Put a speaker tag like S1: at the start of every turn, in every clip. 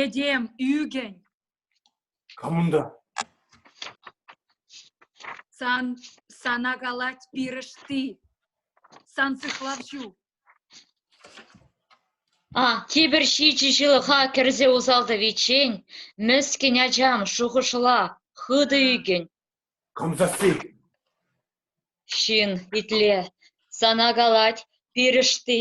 S1: Этем ӳкӗн. Кам
S2: унта?
S1: Сан, сана калать пирӗшти. Сан сыхлав ҫу.
S3: А, тепӗр ҫичӗ ҫылӑха кӗрсе усалтӑвиччен, мӗскӗн ачам, шухӑшла, хытӑ ӳкӗн. Кам сасси? Ҫын, итле, сана калать пирӗшти.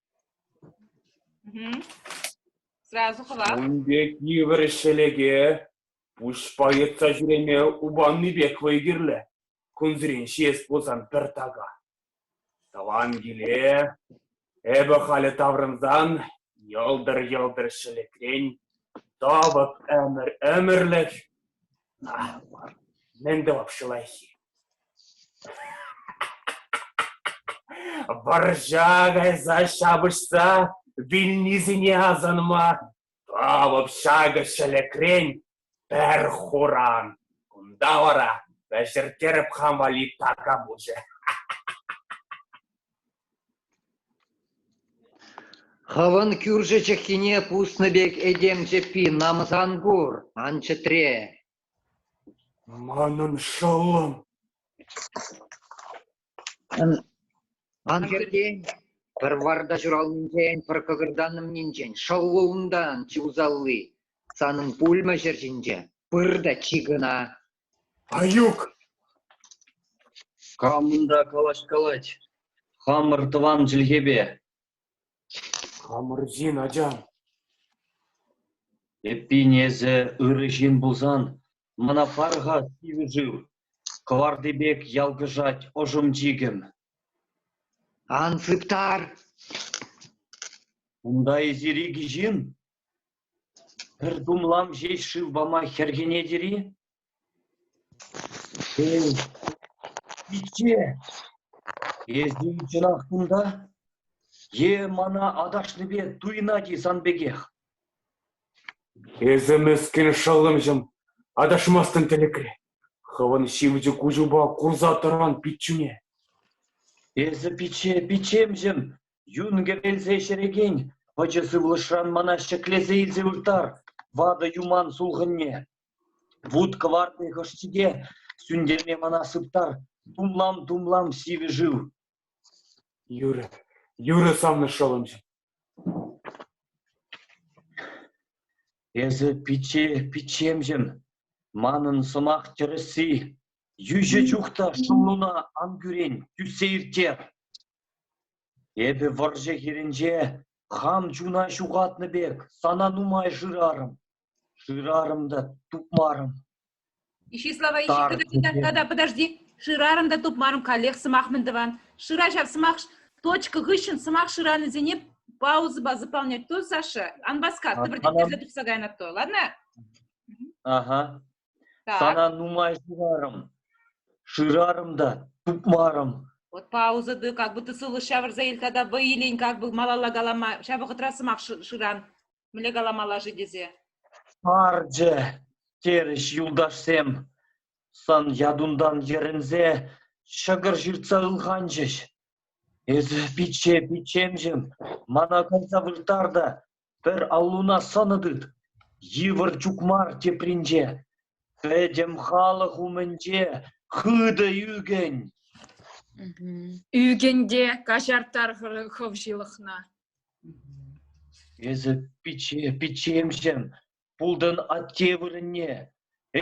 S4: Ун пек йывӑр
S2: ӗҫ-хӗлӗке пуҫпа йӑтса ҫӳреме упаннипех вӑй кирлӗ. Кунсерен ҫиес пулсан пӗр така. Тӑван киле эпӗ халӗ таврӑнсан йӑлтӑр-йӑлтӑр ҫӗлӗкрен тӑвӑп ӗмӗр-ӗмӗрлӗх. Мар, мӗн тӑвапҫӑ лайӑххи? Вӑрҫа кайса ҫапӑҫса вилнисене асӑнма тав общака ҫӗлӗкрен пӗр хуран. Кунта вара вӗҫерттереп хам валли така пулчӗ.
S5: Хӑвӑн кӳршӗ чӑххине пуснӑ пек этем чӗппи намӑсан пур, ан чӗтре.
S2: Манӑн шӑллӑм.
S5: Ан хӗртен, пӗр варта ҫуралнинчен, пӗр кӑкӑртаннӑмнинчен шӑлл унтан, чи усалли. Санӑн пулмӗ ҫӗр ҫинче, пыр та чи кӑна. Аюк!
S6: Камӑн та калаҫ калать хамӑр тӑван чӗлхепе. Хамӑр
S2: ҫын, ачам.
S6: Эппин, эсӗ ырӑ ҫын пулсан, мана пар-ха сивӗ шыв, кӑварти пек ялкӑшать ӑшӑм чикӗм. Ан
S5: сыптар!
S6: Унта эсир икӗ ҫын? Пӗр тумлам ҫеҫ шыв пама хӗрхенетӗр-и? Шел, пичче, эсӗ чӑнах кунта? Е мана аташнипе туйӑнать-и сан пекех?
S2: Эсӗ мӗскӗн шӑллӑмҫӑм, аташмастӑн тӗлӗкре. Хӑвӑн ҫивӗч куҫупа курса тӑран пиччӳне.
S6: Эсӗ пичче, пиччемҫӗм, Юн кӗрелсе ҫӗрекен пӑчӑ сывлӑшран мана ҫӗклесе илсе вырттар ватӑ юман сулхӑнне. Вут кӑвартни хӑшчике сӳнтерме мана сыптар тумлам-тумлам сивӗ шыв. Юрӗ,
S2: юрӗ санна шӑлӑнчӑ.
S6: Эсӗ пичче, пиччемҫӗм, манӑн сӑмах тӗрӗсси. Йӳҫӗ чух та шӑллуна ан кӳрен, тӳссе ирттер. Эпӗ вӑрҫӑ хирӗнче хам чуна ҫухатнӑ пек сана нумай шырарӑм, шырарӑм та тупмарӑм. Ҫи
S4: слова ищи, Тар подожди, купе. да, да, подожди. Шырарӑм та тупмарӑм каллех сӑмах мӗн тӑван. Шыра ҫав сӑмах, точка хыҫҫӑн сӑмах шыранисене паузӑпа заполнять то, Саша? Ан васкат, А, пожди, анан- тесе тухса кайнӑ то, ладно? Ага.
S6: Сана нумай шырарӑм, шырарӑм та тупмарӑм. Вот пауза
S4: ты, как будто сывлӑш ҫавӑрса иртха та вӑй илен, как бы малалла калама, ҫав вӑхӑтра сӑмах шыран, мӗнле каламалла-ши тесе. Сарчӗ,
S6: терӗҫ юлташсем, сан ятунтан йӗрӗнсе ҫӑкӑр ҫыртса ылханчӗҫ. Эсӗ пичче, пиччемҫӗм, мана кайса вырттар та Пӗр аллуна сӑнӑ тыт, йывӑр чукмар тепринче. Пӗтӗм халӑх умӗнче хытӑ ӳкӗн. Ӳкӗн
S1: те каҫар тар хӑв ҫылӑхна.
S6: Эсӗ пичче, пиччемҫӗм, Пултӑн атте вырӑнне,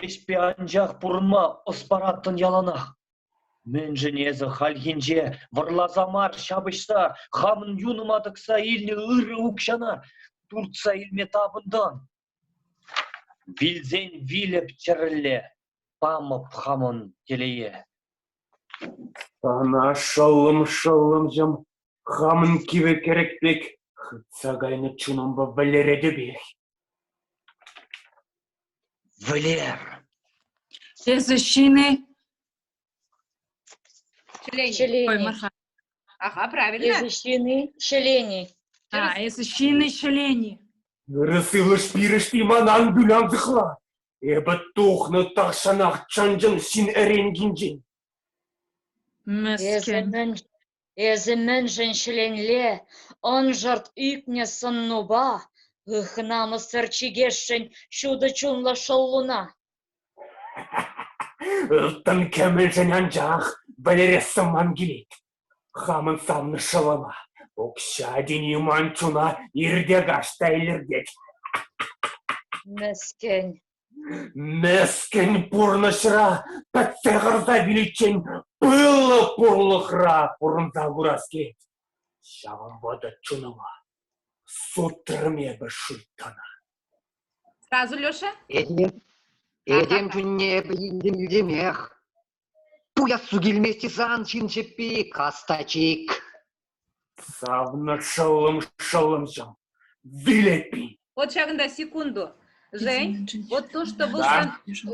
S6: ӗҫпе анчах пурӑнма ӑс параттӑн яланах. Мӗншӗн эсӗ хальхинче вӑрласа мар ҫапӑҫса, хамӑн юнӑма тӑкса илнӗ ырӑ укҫана туртса илме тапӑнтӑн? Вилсен вилӗп чӗрӗлле, памӑп хамӑн телее. Сана
S2: шӑллӑм-шӑллӑмҫӑм хамӑн кивӗ кӗрӗк пек хытса кайнӑ чунӑмпа вӗлеретӗпех.
S1: Вӗлер! Эсӗ ҫын-и?
S6: Ҫӗлен-и? Аха, правильно.
S3: Эсӗ
S1: ҫын-и? Ҫӗлен-и? А, эсӗ ҫын-и, ҫӗлен-и? Ырӑ сывлӑш
S2: пирӗшти манан вылянсӑхла. Эпӗ тухнӑ тахҫанах чӑн-чӑн ҫын эренкинчен.
S1: Мӗскӗн. Эсӗ, эсӗ
S3: мӗншӗн ҫӗленле, ӑншӑрт ӳкнӗ сӑннупа ых намӑссӑр чикесшӗн ҫутӑ чунлӑ шӑллуна?
S2: Ылтӑн кӗмӗлшӗн анчах вӗлерес сӑнман килет. Хамӑн савнӑ шӑлӑма укҫа тени ман чуна ирте-каҫ та илӗртет.
S3: Мӗскӗн. Мӗскӗн
S2: пурнӑҫра пӗтсе хӑрса виличчен пыллӑ пурлӑхра пурӑнса курас килет. Ҫавӑн вӑтӑр чунӑма сутрӑм эпӗ шуйттана.
S4: Сразу, Леша? Этем,
S5: этем чунне эпӗ илтӗм йӳтемех. Пуяссу килмест-и сан ҫын чӗппи, кастачик?
S2: Савнӑ шӑллӑм, шӑллӑмҫӑм, вилетпӗн. Вот ҫакӑнта
S4: секунду. Жень, вот то, что вӑл, сан,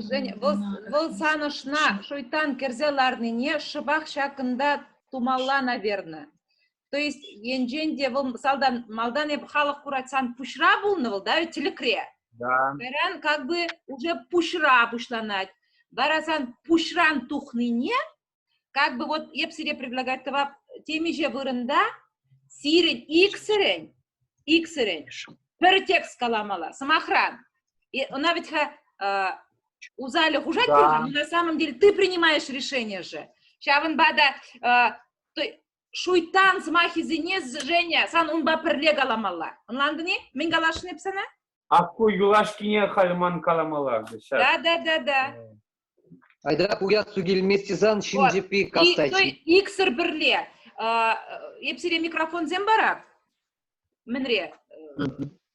S4: Жень,
S2: вӑл,
S4: вӑл сан ӑшна шуйтан кӗрсе ларнине шӑпах ҫакӑнта тумалла, наверное. То есть енчен те вӑл мисалдан малтан эп халӑх курать сан пуҫра пулнӑ вӑл, да, ведь тӗлӗкре. Да. Кайран
S2: как бы
S4: уже пуҫра пуҫланать. Вара сан пуҫран тухнине, как бы вот эп сире предлагать тӑвап темиҫе вырӑнта сирӗн иксӗрӗн, иксӗрӗн пӗр текст каламала, сӑмахран. И она ведь э, усали хужать да. но на самом деле
S2: ты
S4: принимаешь решение же. Ҫавӑнпа та э, шуйттан сӑмахӗсене Женя сан унпа пӗрле каламалла. Ӑнлантӑн-и? Мӗн каласшӑн эп сана? Акку
S2: юлашкине халь ман калама ларчӗ ҫав. Да-да-да-да.
S5: Айдрак уяссу килмест сан ҫын чӗппи кастачи.
S4: Иксӗр пӗрле. Эп сире микрофонсем парап. Мӗнре?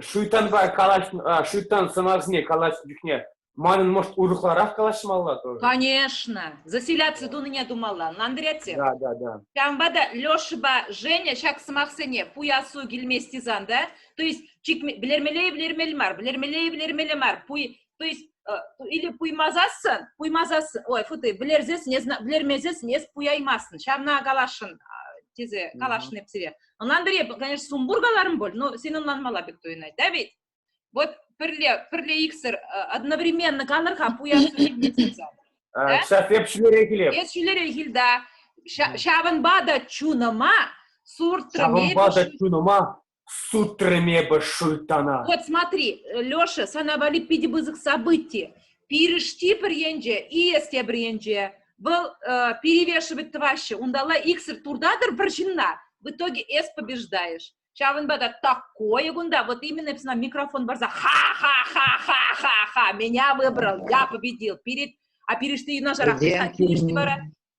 S4: Шуйтанпа
S2: калаҫнӑ, а, Шуйтан сӑнарсене калаҫнӑ чухне манӑн, может, урӑхларах калаҫмалла тоже? Конечно.
S4: Заселяци тунине тумалла, ӑнлантарать-и? Да, да, да. Ҫавӑнпа
S2: та Лешӑпа
S4: Женя ҫак сӑмахсене пуясу килмест тесан да, то есть чикме, вилермелле-и, вилермелле мар, вилермелле-и, вилермелле мар, пуй то есть или пуймасассың пуймасассың ой фу ты білерсесің не білермесесің несіп пуяймассың ҫавна каласшӑн тесе каласшын деп сире ӑнан пире конечно сумбургаларым бол но сен ӑнланмала пек туйӑнать да ведь вот пӗрле пӗрле иксӗр одновременно канӑр-ха пуясса ҫак эп
S2: ҫӳлерех килеп эс ҫӳлерех кил да
S4: ҫавӑнпа та чунӑма суртрӑм
S2: ҫавӑнпа та чунӑма Сутрӑм эпӗ Шультана. Вот смотри,
S4: Леша, sana валли питӗ пысӑк событие. Пирӗшти пӗр енче, ИС тепӗр енче, вӑл э, перевешивать тӑваҫҫӗ. Унталла иксӗр туртатӑр пӗр ҫынна, в итоге эс побеждаешь. Ҫавӑнпа та такое кунта, вот именно сна микрофон барса ха-ха-ха-ха-ха-ха, меня выбрал, я победил. Перед, а перешли юнашарах, перешли вара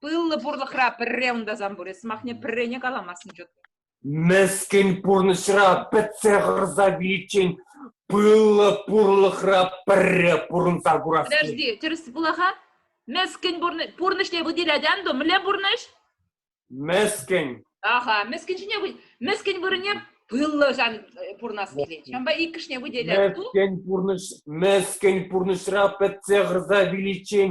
S4: Пыллӑ пурлӑхра пӗрре унтасан пур, сӑмахне пӗррене каламастӑн ҫут. Мӗскӗн
S2: пурнӑҫра пӗтсе хӑрса виличчен пыллӑ пурлӑхра пӗрре пурӑнса курасси. Подожди, тӗрӗс пулах-ха?
S4: Мӗскӗн пурнӑҫне выделять анту, мӗнле пурнӑҫ? Мӗскӗн.
S2: Аха,
S4: мӗскӗн ҫине мӗскӗн вырӑнне пыллӑ ҫан пурӑнас килет. Ҫавӑнпа иккӗшне выделять. Мӗскӗн пурнӑҫ, мӗскӗн
S2: пурнӑҫра пӗтсе хӑрса виличчен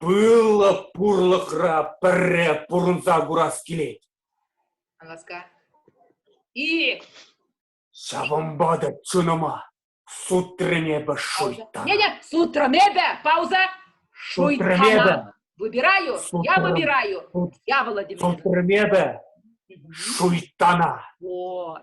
S4: Пыллӑ
S2: пурлӑхра пӗрре пурӑнса курас килет. Ҫавӑнпа та чунӑма сутрӑн
S4: эпӗ
S2: шуйттана. Не, не,
S4: сутрӑн эпӗ, пауза.
S2: Шуйттана.
S4: эпӗ. Выбираю, я выбираю.
S2: Я
S4: Владимир. Сутрӑн эпӗ
S2: шуйттана. Вот.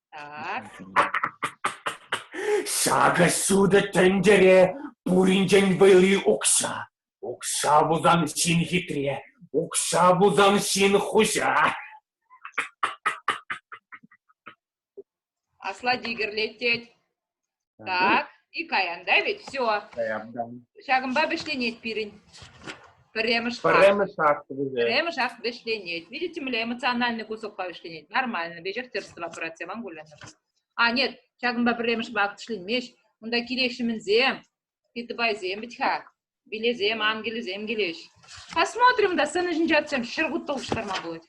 S2: Ҫакӑ ҫутӑ тӗнчере пуринчен вӑйли укҫа. Укҫа пулсан ҫын хитре, укҫа пулсан ҫын хуҫа.
S4: Аслати кӗрлет тет. Так, и каян, да ведь? Все. Ҫакӑнпа вӗҫленет пирӗн. Пӗрремӗш шаг. Пӗрремӗш акт вӗсен. Пӗрремӗш акт вӗҫленет. Видите, мле эмоциональный кусокпа вӗҫленет. Нормально. Вӗҫерттерство операци вам кулянӑ. А, нет, ҫакӑнпа пӗрремӗш акт вӗҫленмест. Унта килеҫҫӗ мӗнсем? Питбайсем бит-ха. Билесем, ангелӗсем килӗҫ. Посмотрим, да сцена ҫинче отсем ҫӗргут толштарма будет.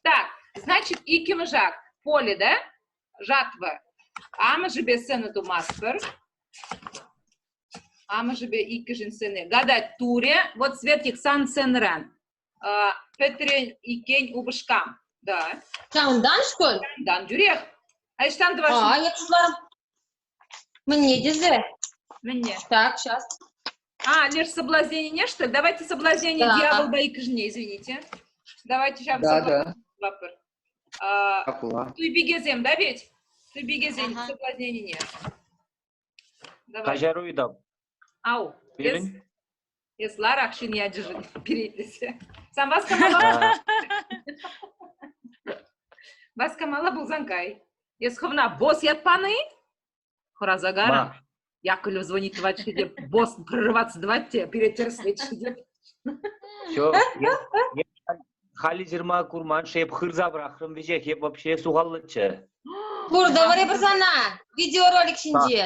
S4: Так, значит, иккӗмӗш акт. Поле, да? жатва. Амӑшӗпе сцена тумастпӑр. Амӑшӗпе иккӗшин сцены гадать туре. Вот цвет их сан сценран. Пӗтрен иккен упӑшкам. Да. Ҫавӑнтан-шкӑн?
S7: Ҫавӑнтан тӳрех.
S4: А ӑҫтан тӑвас? А, я туда.
S7: Мӗнне тесе? Мӗнне?
S4: Так, сейчас.
S7: А, леш
S4: соблазненине, что ли? Давайте соблазнение да. дьявола иккӗшне, извините. Давайте ҫак да, да. А,
S5: туйпикесем, да,
S4: ведь? Туйпикесен соблазненине. Каҫару
S6: Ау,
S4: эс,
S6: эс
S4: ларакшӑн ячӗшӗн перейтӗсӗ. Сан васкамалла. Васкамалла пулсан кай. Эс хӑвна босс ятпан-и? Хӑраса кар.
S6: Яковлев звонит
S4: тӑвать-ши деп, босс прорываться тӑвать те пире тӗрӗслет-ши деп.
S6: Все, халӗ ҫырма курман-ши, эп хырса пӑрахрӑм веҫех, эп вообще сухаллӑччӗ. Пурдаври
S7: пырсана видеоролик ҫинче.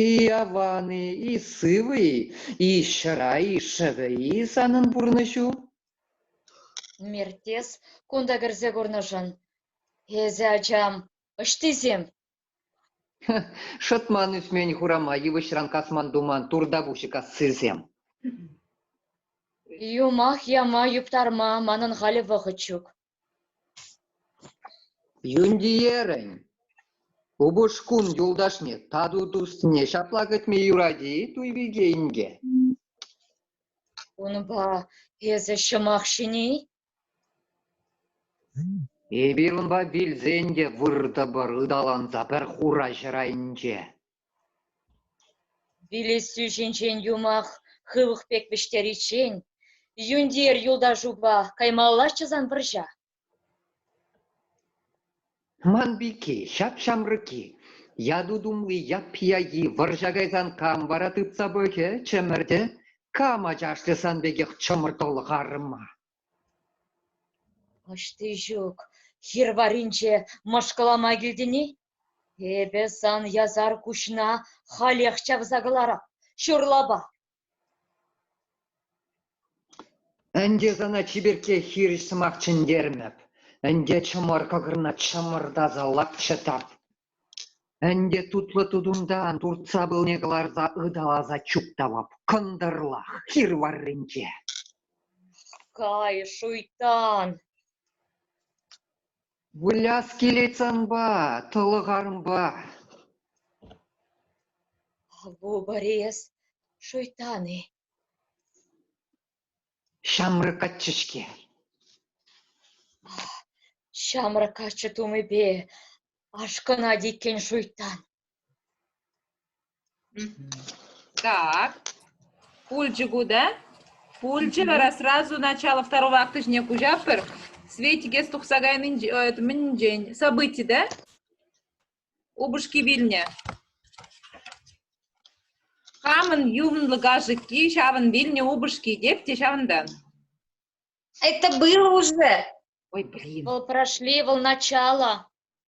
S5: И аван-и, и сывӑ-и, и ҫӑра, и шӑвӗ-и санӑн пурнӑҫу? Мертес,
S3: кунта кӗрсе курнӑшӑн. Эсӗ, ачам, ӑҫтисем?
S5: Шӑтман ӳсмен хурама йывӑҫран касман-туман туртапуҫӗ кассисем.
S3: Юмах яма юптарма манӑн халӗ вӑхӑт ҫук.
S5: Юнтиерӗн упӑшкун юлташне тату туссне ҫапла кӗтме юрать-и, Туйпике инке?
S3: Унпа эсӗ ҫӑмах ҫини?
S5: Эпир унпа вилсен те выртӑпӑр ыталанса пӗр хура ҫӗр айӗнче.
S3: Вилессӳ ҫинчен юмах хывӑх пек вӗҫтериччен Юнтиер юлташупа каймаллаччӗ сан пӑрҫа?
S5: Ман пики ҫап-ҫамрӑк-и, яту тумли яппи-яки вӑрҫа кайсан кам вара тытса пӑхӗ, чӗмӗртӗ? Кам ачашлӗ сан пекех чӑмӑртӑлӑх арӑма?
S3: Ӑҫти ҫук хир варринче мӑшкӑлама килтӗн-и? Эпӗ сан ясар куҫна халех чавса кӑларам, ҫурлапа.
S5: Ӗнтӗ сана чиперкке хирӗҫ сӑмах чӗнтермӗп. Ӗнтӗ чӑмӑр кӑкӑрна чӑмӑртаса лапчӑтап. Ӗнтӗ тутлӑ тутунтан туртса пылне кӑларса ыталаса чуптавап. Кӑнтӑрлах хир варринче.
S3: Кай, шуйтан!
S5: Выляс килет санпа, тӑлӑхарӑмпа.
S3: Ҫамрӑк
S5: каччӑ-ҫке.
S3: Ҫамрӑк каччӑ тумӗпе ашкӑнать иккен шуйттан.
S4: Так, пулчӗ ку да? Пулчӗ вара сразу начало второго акта ҫине куҫатпӑр. Светик эс тухса кайнинчен, это мӗнчен, событи, да? Упӑшки вилнӗ. Хамӑн ювнлӑ кашӑкки ҫавӑн вилнӗ упӑшки тек те ҫавӑнтан.
S7: Это было уже. Ой, блин. Вол-
S4: Прошли, вол
S3: начало.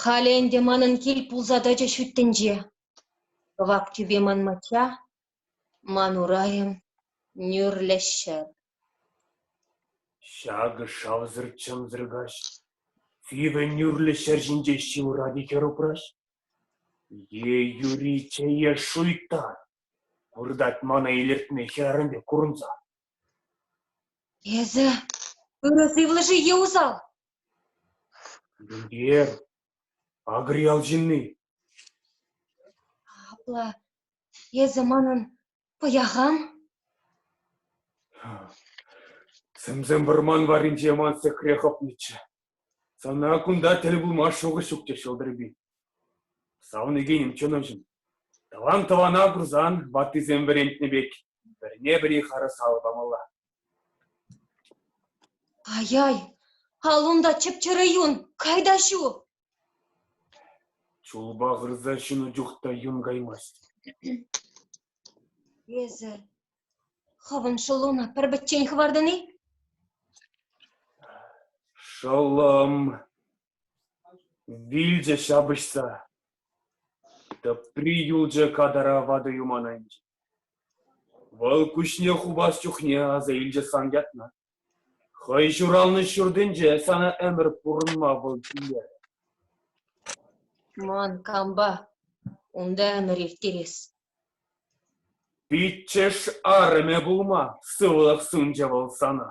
S7: Халӗ ӗнтӗ манӑн кил пулса тӑчӗ ҫут тӗнче. Кӑвак тӳпе ман мачча, ман урайӑм — нӳрлӗ ҫӗр.
S2: Ҫакӑ шавсӑр-чӗмсӗр каҫ. Сивӗ нӳрлӗ ҫӗр ҫинче ҫывӑрать-и хӗр упраҫ? Е юри чее шуйттар, выртать мана илӗртме хӗрарӑм пек курӑнса.
S7: Эсӗ ырӑ сывлӑшӗ-и усал?
S2: Эр, агри ял ҫынни.
S7: Апла эсӗ манӑн пӑяхам?
S2: Сӗмсем вӑрман варринче ман сехре хӑпнӑччӗ. Сана кунта тӗл пулма шухӑш ҫук теҫҫӗ, Ӑлтӑрпи. Савнекенӗм, чӑнӑҫӑм, тӑван тӑвана курсан ваттисем вӗрентнӗ пек пӗрне-пӗри харӑсал памалла.
S7: Ай-ай, ал унта чӗп-чӗрӗ юн, кай та ҫу! Чулпа
S2: хырса ҫунӑ чух та юн каймасть.
S7: Эсӗ хӑвӑн шӑллуна пӗр-пӗччен хӑвартӑн-и?
S2: Шӑллӑм, вилчӗ ҫапӑҫса. Тӑпри юлчӗ катара ватӑ юман айӗнче. Вӑл куҫне хупас чухне аса илчӗ сан ятна. Хӑй ҫуралнӑ ҫуртӗнче сана ӗмӗр пурӑнма вӑл килтерӗ.
S7: Ман кампа унта ӗмӗр ирттерес? Пиччӗш
S2: арӑмӗ пулма сывлӑх сунчӗ вӑл сана.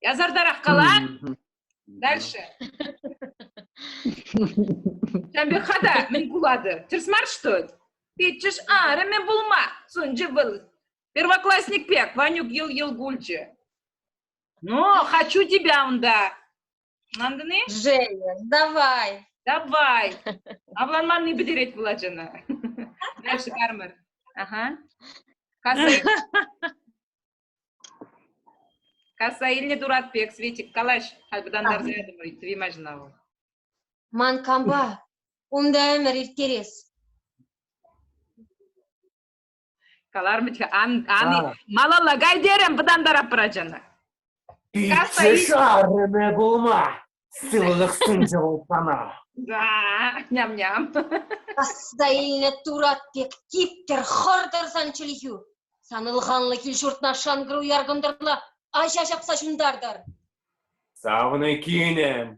S4: Язартарах кала. Дальше. Ҫавӑн пек та мӗн пулатӑр? Тӗрӗс мар что ли? Петчӗш арӑмӗ пулма сунчӗ вӑл. Первоклассник пек, Ванюк ел ел кулчӗ. Ну, хочу тебя унда. Антони? Женя,
S7: давай. Давай.
S4: Авланманни пӗтерет пулать ӑна. Дальше Кармар. Ага. Касай. Касса илнӗ турат пек, Светик, калаҫ, хавхатантарса ятӑмӑр, ыйтрӗ Имаҫна вӑл. Ман
S7: кампа унта ӗмӗр ирттерес.
S4: Калармӗччӗ, ан, ан, малалла кай терӗм, вӑтантарап ачана. Касса
S2: Пичче шаррӑмӗ пулма. Сывлӑх сунчӗ вӑл сана.
S4: Ням-ням. Касса
S7: илнӗ турат пек типтер хӑртӑр сан чӗлхӳ. Сан ылханлӑ кил-ҫуртна шанкӑр уяр кӑнтӑрла аҫа ҫапса ҫунтартар. Савнӑ
S2: кинӗм,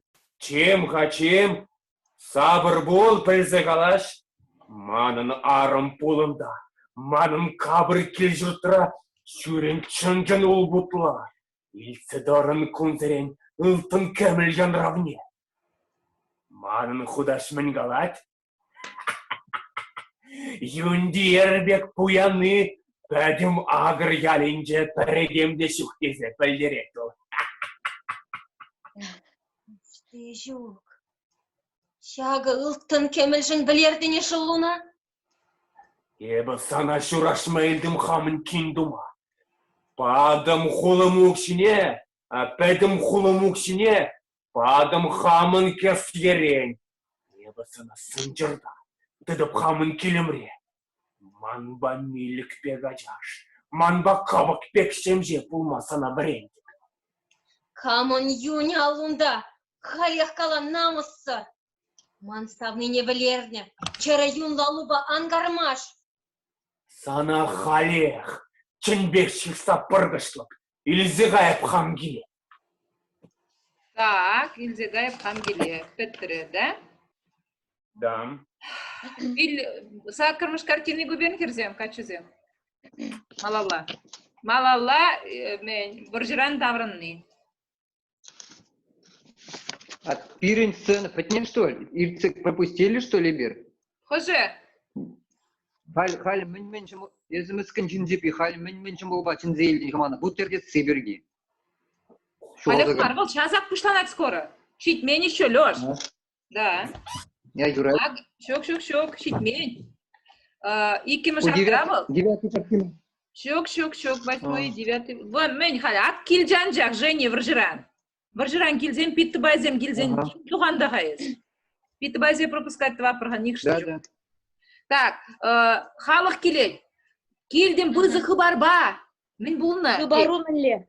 S2: чем-ха чем, сапӑр пул, пӗлсе калаҫ. Манӑн арӑм пулӑнта, манӑн капӑр кил-ҫуртра ҫӳрен чӑн-чӑн улпутла. Илтсе тӑрӑн кунсерен ылтӑн кӗмӗл янравне. Манӑн хутаҫ мӗн калать? Юнтиер пек пуяни пӗтӗм Агр ялӗнче пӗрӗтем те ҫук тесе пӗлтерет
S7: вӑл. Ҫук, ҫакӑ ылтӑн кӗмӗлшӗн пӗлертӗн-и шӑллуна?
S2: Эпӗ сана ҫураҫма илтӗм хамӑн кин тума. Патӑм хулӑм укҫине, пӗтӗм хулӑм укҫине, патӑм хамӑн кӗсъерен. Эпӗ сана сӑнчӑрта, тытӑп хамӑн килӗмре. Манпа милӗк пек ачаш, манпа кӑпӑк пек ҫемҫе пулма сана вӗрентӗп.
S7: Камӑн юнӗ аллунта, халех кала намӑссӑр! Ман савнине вӗлернӗ чӗрӗ юнлӑ лупа ан кармаш!
S2: Сана халех чӗнпех ҫыхса пӑркӑшлӑп, илсе кайӑп хам киле. Так,
S4: илсе кайӑп хам киле. Пӗтрӗ, да? Да.
S2: Ил,
S4: саккӑрмӗш картини купен хӗрсем, каччӑсем. Малалла. Малалла э, вӑрҫӑран таврӑнни.
S5: А пирӗн сцена пӗтнӗ, что ли? Иртсе пропустили, что ли, эпир? Хӑшӗ? Халь, халь мӗн-мӗн ҫӑмӑл, эсӗ мӗскӗн ҫын тӳпи, халь мӗн-мӗн ҫӑмӑлпа чӗнсе илтӗн-ха мана, бутертесси пирки.
S4: Халӗ мар, вӑл часах пуҫланать скоро. Ҫитмен еще, Леш. Да. Я
S5: юраю. Так, ҫук, ҫук, ҫук,
S4: ҫитмен. Иккӗмӗш отрява... Девятый картина.
S5: Ҫук, ҫук,
S4: ҫук, восьмой, девятый. Вон, мӗн халь ат килчӗ анчах, Женя вӑрҫӑран. Вӑрҫӑран килсен, питтыбайсем килсен, туханда-ха эс. Питтыбайсе пропускать тӑваппӑр-ха, нихӑшне ҫук.
S5: Так,
S4: халӑх килет. Килтӗм пысӑк хыпарпа. Мӗн пулнӑ? Хыпару мӗнле?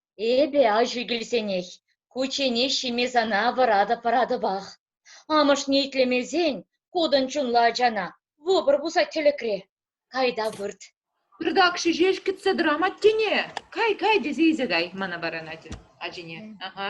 S4: Эпӗ
S7: аҫу килсенех кучченеҫ ҫиме сана вӑратӑп-вӑратӑпах. Амӑшне итлемесен кутӑн чунлӑ ачана вӑпӑр пусать тӗлӗкре. Кайта вырт. Пӗртак ҫеҫ
S4: кӗтсе тӑрам аттене. Кай, кай тесе илсе кай, мана варанать ачине. Ага.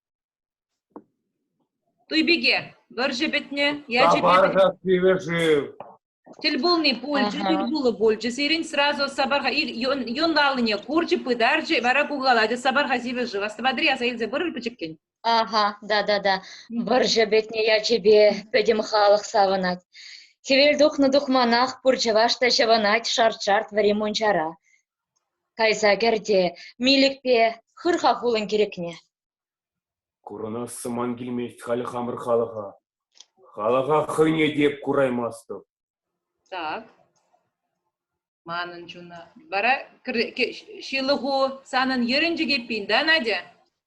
S4: Туй пике, вӑрҫӑ пӗтнӗ, ячӗ Сапар-ха, Кивӗшыв.
S2: Тӗл пулни
S4: пулчӗ, Ага. тӗл пулу пулчӗ. Сирӗн сразу Сапарха ир- юн юн аллине курчӗ, пытарчӗ, вара кукалатӗ Сапарха сивӗшыв. Астӑватӑр-и, аса илсе пырӑр пӗчӗккӗн. Ага, да-да-да.
S7: Вӑрҫӑ пӗтнӗ ячӗпе пӗтӗм халӑх савӑнать. Хӗвел тухнӑ тухманах пур чӑваш та ҫӑвӑнать шарт-шарт вӗри мунчара. Кайса кӗр те милӗкпе хыр-ха хулӑн кирӗкне.
S2: Курӑнассӑм ман килмест халь хамӑр халӑха. Халӑха хӑйне те эп кураймастӑп. Так.
S4: Манӑн чуна. Вара ҫылӑху санӑн йӗрӗнчӗк эппин, да, Надя?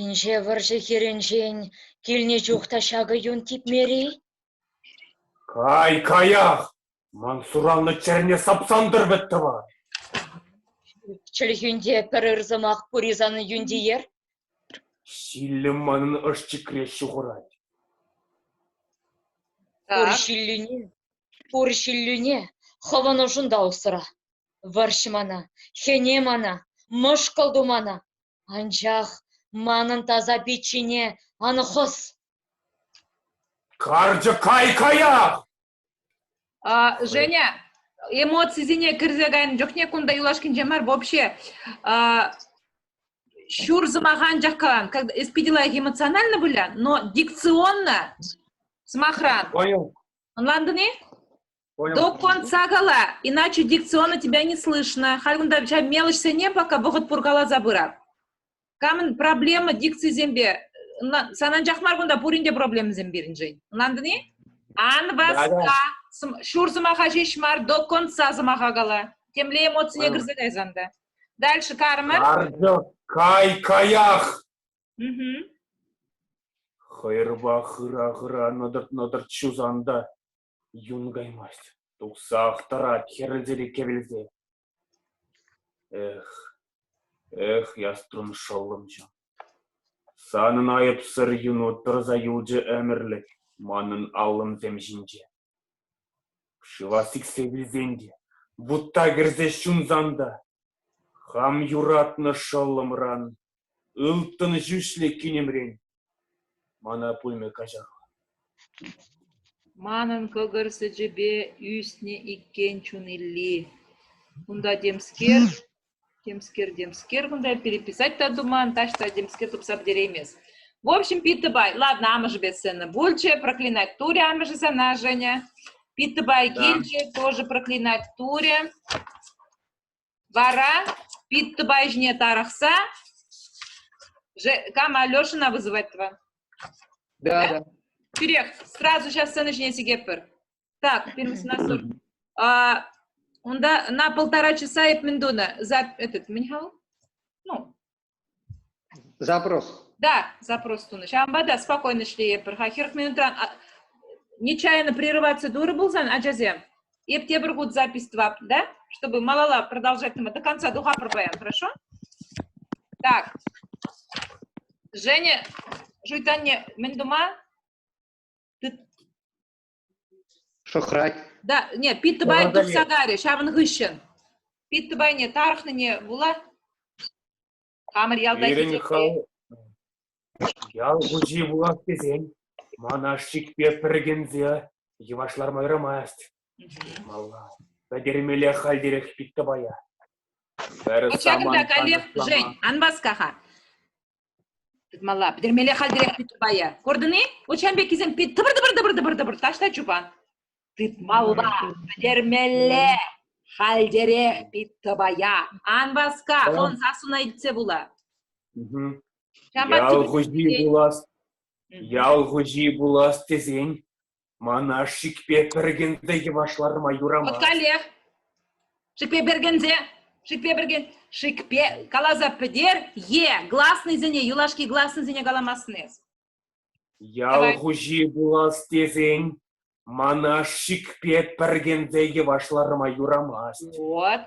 S7: Инҫе вӑрҫӑ хирӗнчен килнӗ чух та ҫакӑ юн типмер-и? Кай,
S2: каях! Ман суранлӑ чӗрне сапсан тӑр вӗт, тӑван! Чӗлхӳнте
S7: пӗр ыр сӑмах пур-и санӑн юнтиер?
S2: Ҫиллӗм манӑн ӑшчикре ҫухӑрать. Пур
S7: ҫиллӳне, пур ҫиллӳне хӑвӑн ӑшунта усра. Вӑрҫ мана, хӗне мана, мӑшкӑл ту мана. Анчах манӑн таса пиччене ан хӑс.
S2: Карчӑк кай каяк! А, Женя,
S4: эмоцисене кӗрсе кайнӑ чухне кунта юлашкинче мар вообще а, ҫур сӑмаха анчах калан. Как, эс питӗ лайӑх эмоционально выля, но дикционно сӑмахран. Понял.
S2: Ӑнлантӑн-и?
S4: Понял.
S2: Доппан сакала,
S4: иначе дикционно тебя не слышно. Халь унта ҫа мелӗшсене пока вӑхӑт пур каласа пырат. Камӑн проблема дикцисемпе Сан анчах мар кунта пуринте проблемӑсем пирӗншӗн. Ӑнлантӑн-и? Ан васка. Ҫур сӑмаха ҫеҫ мар, до конца сӑмаха кала. Темле эмоцине кӗрсе кайсан та. Дальше кармы. Кай
S2: каях.
S4: Хӑйрпа
S2: хыра-хыра нӑтӑрт-нӑтӑрт ҫусанда. Юн каймасть, тухсах тӑрать хӗрӗлчӗри кӗвӗлсе. Эх, эх, Яструн шӑллӑмҫӑ, санӑн айӑпсӑр юну тӑрса юлчӗ ӗмӗрлӗх манӑн аллӑмсем ҫинче. Шыва сиксе вилсен те, вутта кӗрсе ҫунсан та, хам юратнӑ шӑллӑмран Ылтӑн ҫӳҫлӗ кинӗмрен мана пулмӗ каҫах.
S4: Манӑн кӑкӑр сӗчӗпе ӳснӗ иккен чун Илли. Кунта темскер, темскер, темскер кунта переписать та туман, таҫта темскер тупса пӗтереймест. В общем, Питтӑпай, ладно, амӑшӗпе сцена пулчӗ, проклинать Туря амӑшӗ сана, Женя. Питтӑпай килчӗ, тоже проклинать Туря. Вара Питтӑпай ҫине тарӑхса кам Алешӑна вызывать тӑван. Да, да.
S5: Тӳрех
S4: сразу сейчас сцена ҫине сикетпӗр. Так, первый насор. А, унта на полтора часа эп мӗн тунӑ? За этот мӗн хав? Ну,
S5: Запрос. Да,
S4: запрос тунӑ. Ҫавӑнпа та спокойно ӗҫлейӗпӗр-ха. Хӗр минутран нечаянно прерываться турӗ пулсан, ачасем, эп тепӗр хут запись тӑвап, да, чтобы малала продолжать до конца тухапӑр паян, хорошо? Так. Женя, шуйтанне мӗн тума? Ты
S5: Шӑхрать. Да, не,
S4: Питтӑпай тухса карӗ ҫавӑн хыҫҫӑн. Питтӑпайне тарӑхнине вула хамӑр ялта Пирӗн хӑв
S2: ял хуҫи пулас тесен ман ашшикпе пӗркенсе йӑваш ларма юрамасть. Малла пӗтермелле хальтерех Питтӑпая.
S4: Ҫакӑнта каллех, Жень, ан васка-ха. Тытмалла. Пӗтермелле хальтерех чупайя. Курдӑн-и? Вот ҫан пеккисем тӑпӑр-тӑпӑр-тӑпӑр-тӑпӑр таҫта чупа. Тытмалла. Пӗтермелле. Хальтерех пит тӑпая. Ан васка. Хӑн сассуна илтсе пула. Ял хуҫи пулас,
S2: ял хуҫи пулас тесен Ман ашшӗкпе пӗркенсе йӑваш ларма юрамасть. От каллех.
S4: Шипе пӗркенсе, шипе пӗркен, шикпе каласа пӗтер, е гласнӑйсене, юлашки гласнӑйсене каламассın эс.
S2: Ял хуҫи пулас тесен ман ашшӗкпе пӗркенсе йӑваш ларма юрамасть. Вот.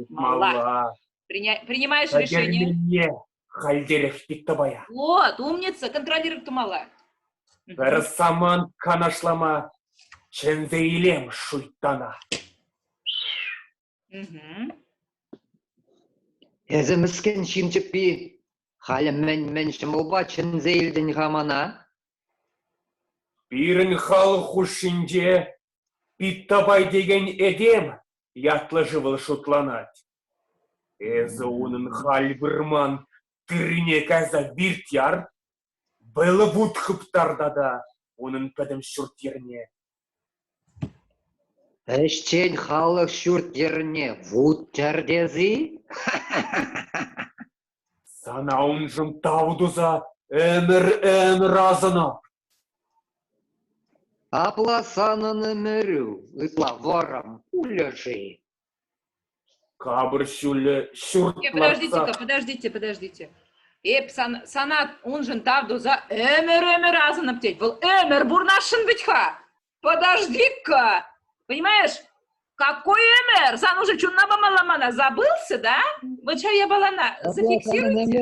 S4: Малла. Принимаешь решение. Халь
S2: терех Питтӑпая. Вот, умница,
S4: контролировать тумалла. Пӗр
S2: самант канашлама чӗнсе илем шуйттана.
S5: Эсӗ мӗскӗн ҫын чӗппи, халӗ мӗн-мӗн ҫӑмӑлпа чӗнсе илтӗн-ха мана? Пирӗн
S2: халӑх хушшинче Питтапай текен этем ятлӑ-шывӑл шутланать. Эсӗ унӑн халь вырман тыррине кайса виртяр, вӑйлӑ вут хыптар тата унӑн пӗтӗм ҫурт-йӗрне.
S5: Ӗҫчен халӑх ҫурт-йӗрне вут чар тес-и?
S2: Сана уншӑн тав туса ӗмӗр-ӗмӗр асӑнам.
S5: Апла санӑн ӗмӗрӳ ытла вӑрӑм пулӗ-ши?
S2: Капӑр ҫулӗ ҫурт э, подождите подождите, подождите.
S4: Эп сан, сана уншӑн тав туса ӗмӗр-ӗмӗр асӑнӑп тет. Вӑл ӗмӗр бурнашшӑн вӗт-ха. Подожди-ка. Понимаешь? Какой ӗмӗр? Сан уже чунна памалла мана. Забылся, да? Вот сейчас я была зафиксируйте.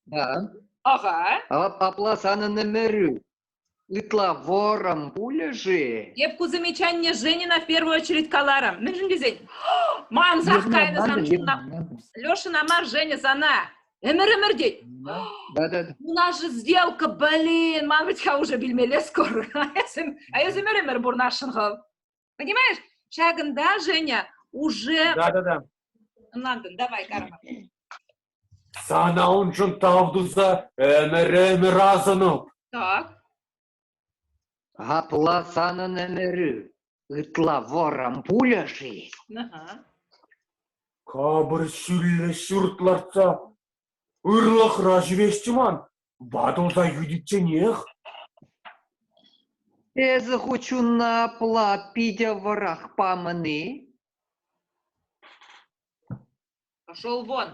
S4: Да.
S5: Ага.
S4: Апла санын
S5: ӗмӗрӳ. Ытла вӑрӑм пулӗ-ши? Эп ку замечание
S4: Женина в первую очередь каларӑм. Мӗншӗн тесен мансах кайнӑ сан чуна. Лешина мар, Женя, сана. Ӗмір-ӗмір тет. У
S5: нас же
S4: сделка, блин, ман вӗт-ха уже билмелле скоро. А эс ӗмір-ӗмір пурнасшӑн хав. Понимаешь? Ҫакӑнта, Женя, уже... Да, да, да.
S2: Ӑнлантӑн,
S4: давай, Карма. Сана
S2: уншӑн тав туса ӗмӗр-ӗмӗр асӑнӑп. Так.
S5: Апла санӑн ӗмӗрӳ ытла вором пуля-ши?
S2: Капӑр
S5: ҫӳллӗ
S2: ҫурт лартса ырлӑхра ҫӳресчӗ ман. Ватӑлса ӳкӗтсенех?
S5: Эсӗ ху чунна апла питӗ вӑрах памӑн-и?
S4: Шел вон,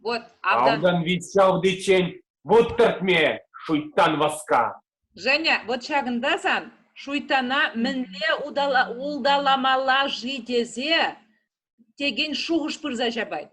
S4: вот автан... Автан вит ҫавтиччен
S2: вот тӗртме, шуйттан васка. Женя, вот
S4: ҫакӑнта сан шуйттана мӗнле улталамалла-ши тесе текен шухӑш пырса ҫапать.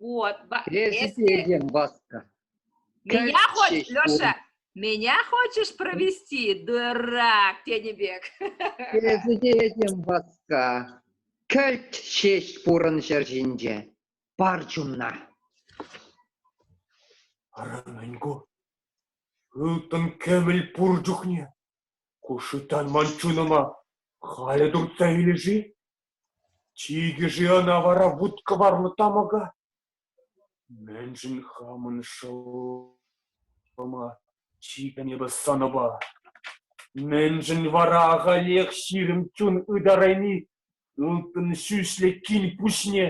S4: Вот. Президент
S5: Баска. Меня
S4: хочешь, Леша, меня хочешь провести, дурак, тенебек. Президент
S5: Баска, кӗлт ҫеҫ пурӑн ҫӗр ҫинче, пар чумна.
S2: Ара мӗн ку? Ылтӑн кӗвӗл пур чухне. Ку шытан ман чунӑма халӗ туртса илӗ-ши? Чикӗ-ши ӑна вара вут-кӑварлӑ тамӑка? Мӗншӗн хамӑн шӑллӑма чикӗ эпӗ сӑнӑпа? Мӗншӗн вара ахалех ҫирӗм чун ытарайми ылтӑн ҫӳҫлӗ кил пуҫне?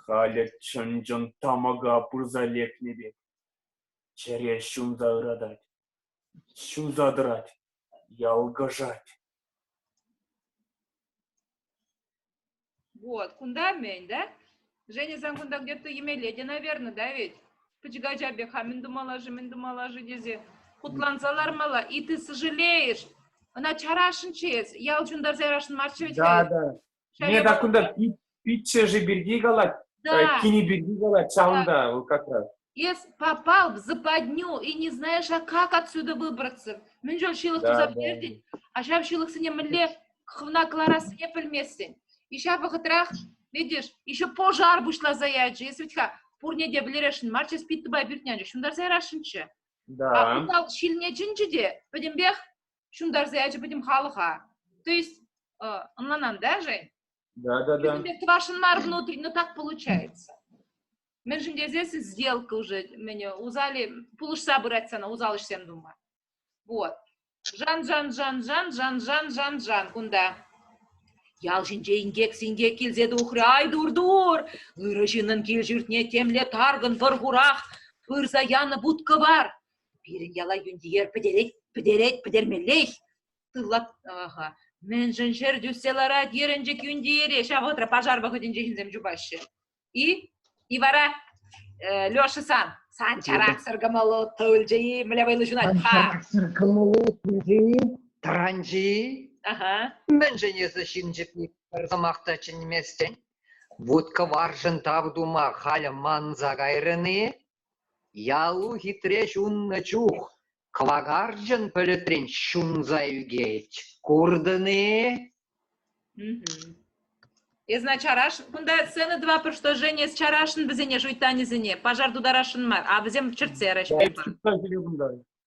S2: Халӗ чӑн-чӑн тамӑка пырса лекнӗ пек чӗре ҫунса ыратать. Ҫунса тӑрать, ялкӑшать.
S4: Вот, кунта мӗн, да? Женя сан кунта где-то емелете, наверное, да ведь? Пӗчӗк ача пек ха мӗн тумалла-ши, мӗн тумалла-ши тесе хутланса лармалла. И ты сожалеешь. Ӑна чарасшӑнччӗ эс. Ял ҫунтарса ярасшӑн марччӗ ведь? Да, да.
S2: Мне так кунта пиччӗшӗ пирки калать, да. кини пирки
S4: калать,
S2: ҫавӑнта да. вӑл как раз. Если попал
S4: в западню и не знаешь, а как отсюда выбраться, мӗн жол ҫылӑхтуса пӗтердин,
S2: а ҫав
S4: ҫылӑхсене мӗнле хывна кӑларассине пӗлместӗн. И ҫав вӑхӑтрах, видишь, еще пожар пуҫласа ячӗ. Если ведь пурне те вӗлерешӗн мар, сейчас пит тупа пӳртнянче, ҫунтарса ярасшӑнччӗ. Да. А утал
S2: ҫилне
S4: чӗнчӗ те, пӗтӗмпех ҫунтарса ячӗ пӗтӗм халӑха. То есть ӑнланан, да, Да, да, да.
S2: Это ваше мар
S4: внутренне, но так получается. Мӗншӗн тесен сделка уже, меня узали, пулӑшса пырать сана, узал ӗҫсем тума. Вот. Жан, жан, жан, жан, жан, жан, жан, жан кунта. Ял ҫинче инкек-синкек килсе тухрӗ, ай дур-дур, ырӑ ҫыннӑн кил-ҫуртне темле таркӑн вӑр хурах пырса янӑ будка бар. Пирӗн яла юнтиер пӗтерет, пӗтерет, пӗтермеллех. Тыллат, аха. Мӗншӗн ҫӗр тӳссе ларать ерӗнчӗк юнтиере? Ҫав вӑхӑтра пожар вӑхӑтӗнче ҫынсем чупаҫҫӗ. И? И вара э, Леша сан, сан чараксӑр кӑмӑллӑ тылчи мӗле вӑйлӑ ҫунать. Чараксӑр кӑмӑллӑ
S5: тылчи, таранчи. Ага.
S4: Мӗншӗн эсӗ
S5: ҫынчӑк пӗр сӑмах та чӗнместӗн? Вут кӑваршӑн тав тума халӗ манса кайрӑн-и? Ялу хитре ҫуннӑ чух кӑвакарчӑн пӗлӗтрен ҫунса ӳкет, куртӑн-и?
S4: Эсна чараш, кунта сцена два предложения с чарашӑн вӗсене шуйттанӗсене, пожар тутарасшӑн мар, а вӗсем чӗртсерӗҫ.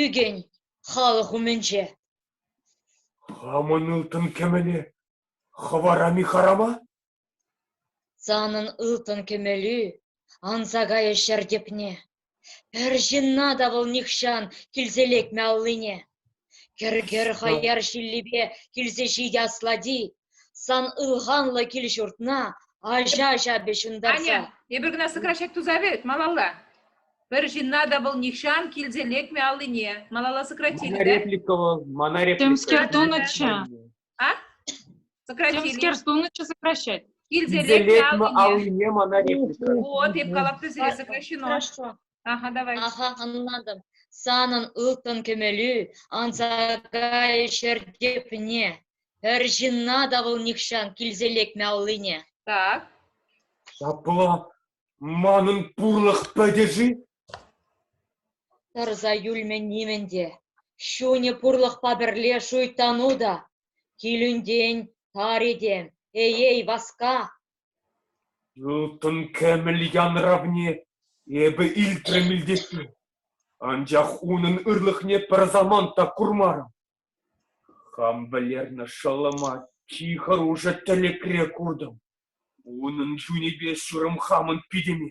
S7: Ӳкӗн халӑх умӗнче. Хамӑн
S2: ылтӑн кӗмӗле хӑварам-и харама?
S7: Санӑн ылтӑн кӗмӗлӳ анса кайӗ ҫӗр тӗпне. Пӗр ҫынна та вӑл нихҫан килсе лекмӗ аллине. Кӗр-кӗр хаяр ҫиллипе килсе ҫитӗ аслати. Сан ылханлӑ кил-ҫуртна аҫа-аҫа ҫунтарса. Аня, эпир кӑна
S4: сӑкра ҫак туса вӗт малалла. Пӗр ҫынна та вӑл нихҫан килсе лекмӗ аллине. Малалла сократили, Мана реплика вӑл, мана реплика.
S1: Темскер тунӑччӗ. А?
S4: Сократили. Темскер тунӑччӗ
S1: сокращать. Килсе лекмӗ аллине.
S4: аллине мана
S2: реплика. Вот, эп калап
S4: сире сокращено. Хорошо. Аха,
S7: давай. Аха,
S4: ӑнлантӑм.
S7: Санӑн ылтӑн кӗмӗлӳ анса кайӗ ҫӗр тепне. Пӗр ҫынна та вӑл нихҫан килсе лекмӗ аллине. Так.
S4: Ҫапла,
S2: манӑн пурлӑх пӗтӗ-ши?
S7: Тӑрса юлмӗ нимӗн те. Ҫунӗ пурлӑхпа пӗрле шуйттану та. Килӳнтен тар этем, эй-эй, васка!
S2: Ылтӑн кӗмӗл янравне эпӗ илтрӗм илтессе, анчах унӑн ырлӑхне пӗр самант та курмарӑм. Хам вӗлернӗ шӑллӑма чи хӑрушӑ тӗлӗкре куртӑм. Унӑн чунӗпе ҫурӑм хамӑн питӗме.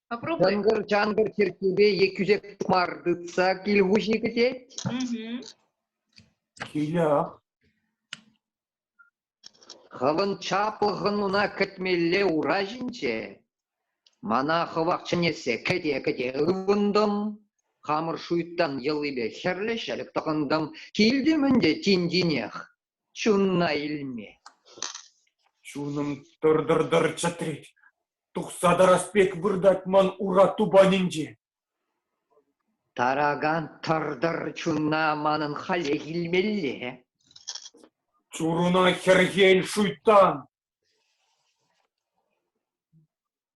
S4: Чӑнкӑр-чанкӑр
S5: чиркӳпе е кӳсек мар тытса кил хуҫи кӗтет.
S2: Ҫилях.
S5: Хӑвӑн чаплӑхӑн уна кӗтмелле ура ҫинче. Мана хӑвах чӗнессе кӗте-кӗте ывӑнтӑм. Хамӑр шуйттан йӑлипе хӗрлӗ ҫӗлӗк тӑхӑнтӑм. Килтӗм ӗнтӗ тин-тинех. Чунна илме.
S2: Чунӑм тӑр-тӑр-тӑр чӗтрет. Тухса тарас пек выртать ман ура тупанӗнче. Таракан
S5: тӑр-тӑр чунна манӑн халех илмелле.
S2: Чуруна хӗрхен шуйттан.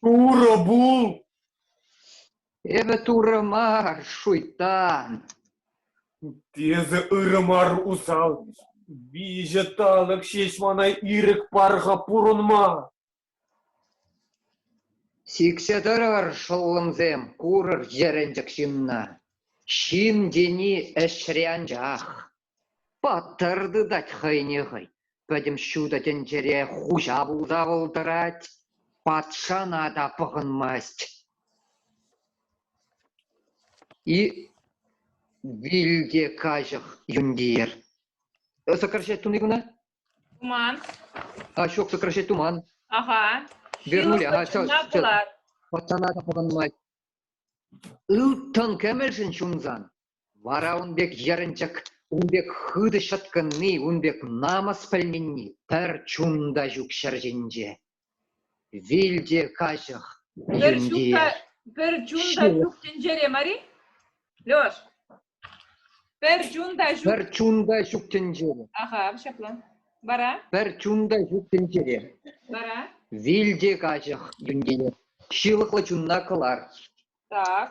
S2: Турӑ пул!
S5: Эпӗ турӑ мар, шуйттан!
S2: Эсӗ ырӑ мар усал! Виҫӗ талӑк ҫеҫ мана ирӗк парха пурӑнма!
S5: Сиксе тӑрӑр, шӑллӑмсем, курӑр йӗрӗнчӗк ҫынна. Ҫын тени ӗҫре анчах. Паттӑр тытать хӑйне хӑй, пӗтӗм ҫутӑ тӗнчере хуҫа пулса вӑл тӑрать, патшана та пӑхӑнмасть. И вилте каҫӑх юнтиер. Э, сокращать туни куна? Туман. А, ҫок, сокращать туман. Ага. Вернули, ага, сейчас, сейчас. Патшана та пӑхӑнмасть. Ылтӑн кӗмӗлшӗн ҫунсан Вара ун пек йӗрӗнчӗк, ун пек хытӑ ҫӑткӑнни, ун пек намӑс пӗлменни пӗр чун та ҫук ҫӗр ҫинче. Вил те каҫӑх, пӗр чун тӳнтие. та, пӗр чун
S4: та ҫывӑх. ҫук тӗнчере мар-и? Леш, пӗр чун та ҫук. Пӗр чун та ҫук
S5: тӗнчере. Аха, ҫапла.
S4: Вара? Пӗр чун та ҫук
S5: тӗнчере. Вара?
S4: Вил те
S5: каҫӑх тӗнчере. Ҫылӑхлӑ чунна кӑлар. Так.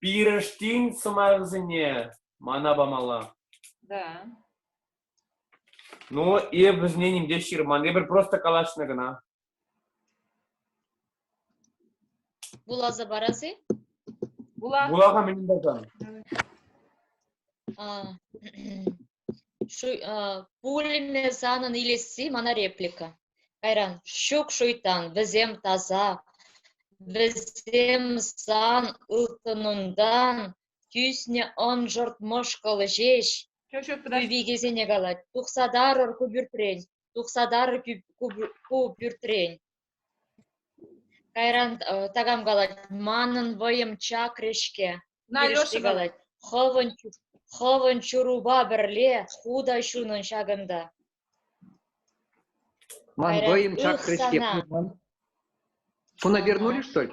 S2: пирӗштин сӑмахӗсене мана памалла. Да. Ну, эп вӗсене ним те ҫырман. Эпир просто калаҫнӑ кӑна.
S7: Вуласа парас-и? Вула.
S4: Вулага мӗн пулсан?
S7: пулӗме санӑн илесси мана реплика кайран ҫук шуйтан вӗсем таса вӗсем сан ылтӑнунтан тӳснӗ ӑншӑрт мӑшкӑллӑ ҫеҫ
S4: викесене калать
S7: тухса тарӑр ку пӳртрен тухса тарӑр ку пӳртрен Кайран такам калать: «Манӑн вӑйӑм чакрӗ-ҫке!» Пирӗшти
S4: калать:
S7: «Хӑвӑн ҫурупа пӗрле ху та ҫунӑн ҫакӑнта».
S5: «Ман вӑйӑм чакрӗ-ҫке, куна пернули, что ли?»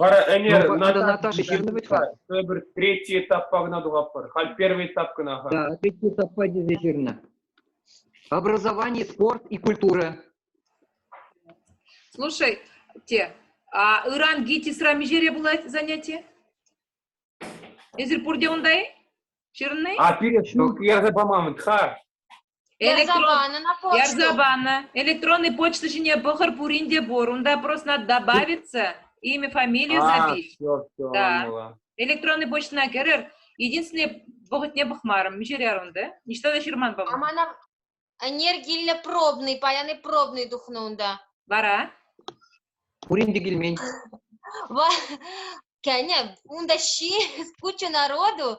S2: Вара ӗнер надо
S5: Наташа ҫырнӑ вӗт-ха. Тепӗр третий
S2: этаппа кӑна тухатпӑр. Халь первый этап кӑна ха. Да, третий этаппа
S5: тесе ҫырнӑ. Образование, спорт и культура.
S4: Слушай, те, а ыран ГИТИСра миҫере пулать занятие? Эсир пурте унта-и? Ҫырнӑ-и? А пире ҫук
S2: ярса паман, ха. Ярса панӑ на почту.
S4: Ярса панӑ. Электронный почта ҫине пӑхӑр пурин те пур. Унта просто надо добавиться, имя, фамилию запись. все, все, да. Электронный почтӑна кӗрӗр. Единственное, вӑхӑтне пӑхмарӑм. Миҫере унда? Ниҫта та ҫырман, по-моему. Амана
S8: энергиллӗ пробный, паян пробный тухнӑ унта. Вара?
S5: Пурин те килмен.
S8: Кӗнӗ, унта ҫи куча народу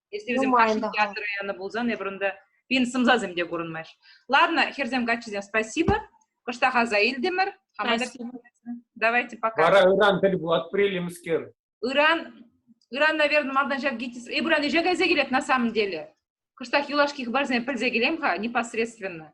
S4: Если вӗсем кашни театра янӑ пулсан, эпир унта пин сӑмсасем те курӑнмаҫ. Ладно, хӗрсем, каччисем, спасибо. Кӑштах аса илтӗмӗр. Давайте пока. Вара ыран тӗл пулатпӑр,
S2: Ыран,
S4: ыран, наверное, малтан ҫак ГИТИС, эпир ӗҫе кайса килет на самом деле. Кӑштах юлашки хыпарсене пӗлсе килем-ха непосредственно.